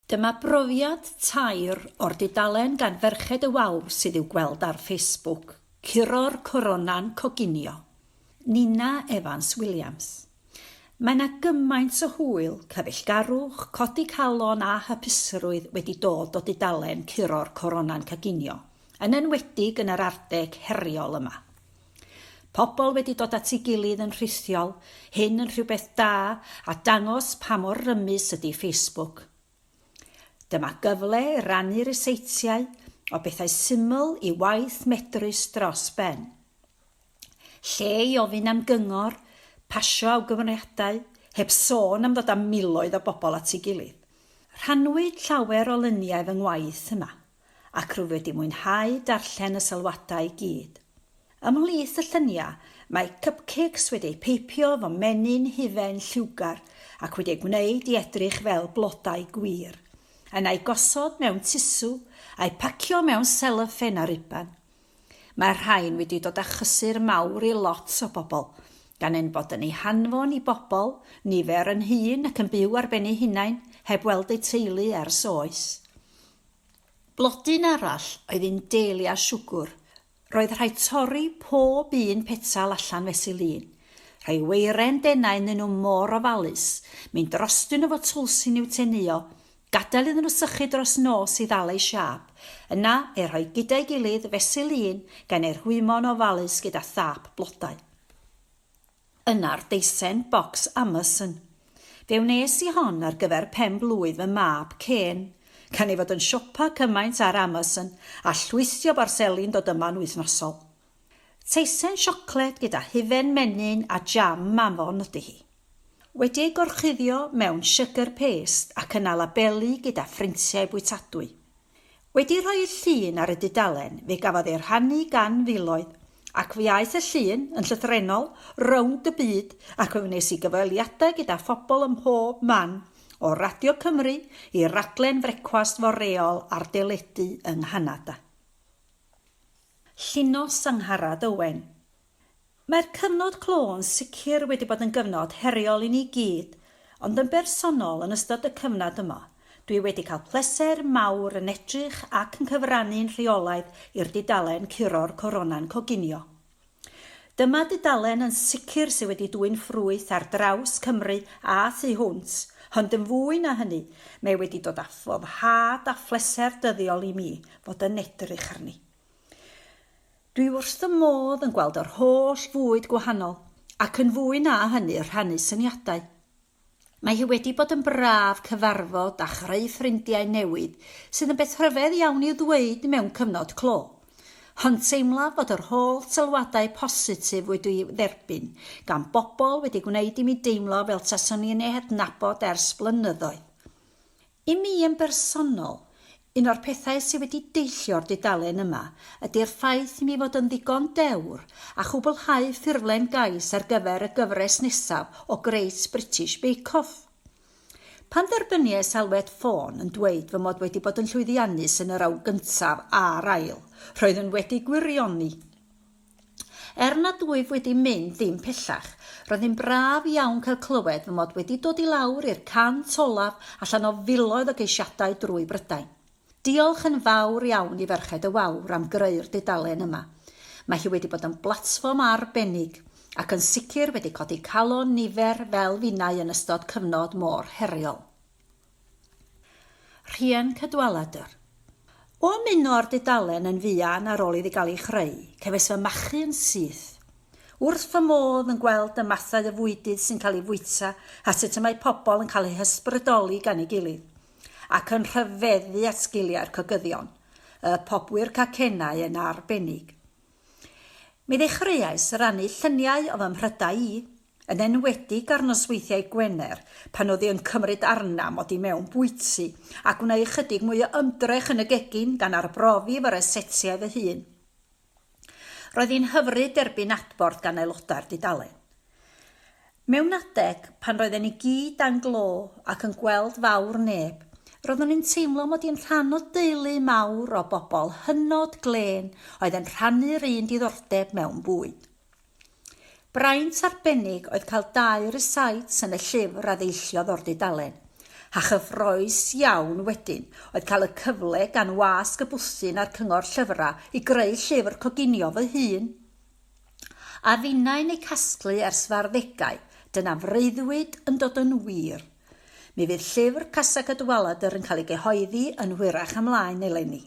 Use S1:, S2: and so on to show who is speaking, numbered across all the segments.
S1: Dyma brofiad tair o'r dudalen gan ferched y wawr sydd i'w gweld ar Facebook, Curo'r Corona'n Coginio, Nina Evans Williams. Mae 'na gymaint o hwyl, cyfeillgarwch, codi calon a hapusrwydd wedi dod o dudalen Curo'r Corona'n Coginio, yn enwedig yn yr arddeg heriol yma. Pobl wedi dod at ei gilydd yn rhithiol, hyn yn rhywbeth da a dangos pa mor rymus ydy Facebook. Dyma gyfle i rannu ryseitiau o bethau syml i waith medrus dros ben. Lle i ofyn am gyngor, pasio awgrymiadau, heb sôn am ddod â miloedd o bobl at ei gilydd. Rhannwyd llawer o luniau fy ngwaith yma. ac rwyf wedi mwynhau darllen y sylwadau i gyd. Ymhlith y lluniau, mae cupcakes wedi eu peipio fy menyn hufen lliwgar ac wedi eu gwneud i edrych fel blodau gwir, yn eu gosod mewn tisw, a'u pacio mewn seloffen a riban. Mae'r rhain wedi dod â chysur mawr i lot o bobl, gan ein bod yn eu hanfon i bobl, nifer yn hŷn ac yn byw ar ben eu hunain, heb weld eu teulu ers oes. Blodyn arall oedd un dahlia siwgwr. Roedd rhaid torri pob un petal allan fesul un. Rhai weiren denau ynddyn nhw mor ofalus, mynd drostyn nhw fo twlsyn i'w teneuo, gadael iddyn nhw sychu dros nos i ddal eu siâp, yna eu rhoi gyda'i gilydd fesul un gan eu rhwymo'n ofalus gyda thâp blodau. Yna'r deisen bocs Amazon. Fe wnes i hon ar gyfer pen-blwydd fy mab Kên. Gan ei fod yn siopa cymaint ar Amazon a llwytho barseli'n dod yma'n wythnosol. Teisen siocled gyda hufen menyn a jam Mammon ydy hi. Wedi ei gorchuddio mewn siwgr pêst ac yna labelu gyda phrintiau bwytadwy. Wedi rhoi y llun ar y dudalen fe gafodd ei rhannu gan filoedd, ac fe aeth y llun yn llythrennol rownd y byd ac fe wnes i gyfweliadau gyda phobl ym mhob man, o Radio Cymru i raglen frecwast foreol ar deledu yng Nghanada. Llinos Angharad Owen. Mae'r cyfnod clo'n sicr wedi bod yn gyfnod heriol i ni gyd, ond yn bersonol yn ystod y cyfnad yma, dwi wedi cael pleser mawr yn edrych ac yn cyfrannu'n rheolaidd i'r dudalen Curo'r Corona'n Coginio. Dyma dudalen yn sicr sydd wedi dwyn ffrwyth ar draws Cymru a thu hwnt, ond yn fwy na hynny, mae wedi dod â phoddhad a phleser dyddiol i mi fod yn edrych arni. Dwi wrth fy modd yn gweld yr holl fwyd gwahanol ac yn fwy na hynny rhannu syniadau. Mae hi wedi bod yn braf cyfarfod a chreu ffrindiau newydd sydd yn beth rhyfedd iawn i'w ddweud mewn cyfnod clo. Hon teimlaf fod yr holl sylwadau positif wedi'u dderbyn gan bobl wedi gwneud i mi deimlo fel taswn i'n ei hadnabod ers blynyddoedd. I mi yn bersonol, un o'r pethau sydd wedi deillio'r dudalen yma ydy'r ffaith i mi fod yn ddigon dewr a chwblhau ffurflen gais ar gyfer y gyfres nesaf o Great British Bake Off. Pan dderbyniais alwad ffôn yn dweud fy mod wedi bod yn llwyddiannus yn yr awr gyntaf a'r ail, roeddwn wedi gwirioni! Er nad wyf wedi mynd dim pellach, roedd hi'n braf iawn cael clywed fy mod wedi dod i lawr i'r 100 olaf allan o filoedd o geisiadau drwy Brydain. Diolch yn fawr iawn i Ferched y Wawr am greu'r dudalen yma. Mae hi wedi bod yn blatfform arbennig, ac yn sicr wedi codi calon nifer fel finnau yn ystod cyfnod mor heriol. Rhian Cadwaladr. O ymuno â'r dudalen yn fuan ar ôl iddi gael ei chreu, cefais fy machu yn syth. Wrth fy modd yn gweld y mathau o fwydydd sy'n cael eu fwyta a sut y mae pobl yn cael eu hysbrydoli gan ei gilydd, ac yn rhyfeddu at sgiliau'r cogyddion, y pobwyr cacennau yn arbennig. Mi ddechreuais rannu lluniau o fy mhrydau i, yn enwedig ar nosweithiau Gwener pan oedd hi yn cymryd arna'm oddi mewn bwyty, a gwneud ychydig mwy o ymdrech yn y gegin gan arbrofi fy rysetiau fy hun. Roedd hi'n hyfryd derbyn adborth gan aelodau'r dudalen. Mewn adeg, pan roedden ni gyd dan glo ac yn gweld fawr neb, roeddwn i'n teimlo mod i'n rhan o deulu mawr o bobl hynod glên oedd yn rhannu'r un diddordeb mewn bwyd. Braint arbennig oedd cael dau rysáit yn y llyfr a ddeilliodd o'r dudalen, a chyffrous iawn wedyn oedd cael y cyfle gan Wasg y Bwthyn a'r Cyngor Llyfrau i greu llyfr coginio fy hun. A finnau'n eu casglu ers farddegau, dyna freuddwyd yn dod yn wir. Mi fydd llyfr Casa Cadwaladr yn cael ei gyhoeddi yn hwyrach ymlaen eleni.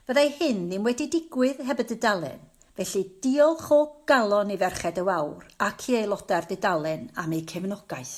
S1: Fyddai hyn ddim wedi digwydd heb y dudalen, felly diolch o galon i Ferched y Wawr ac i aelodau'r dudalen am eu cefnogaeth.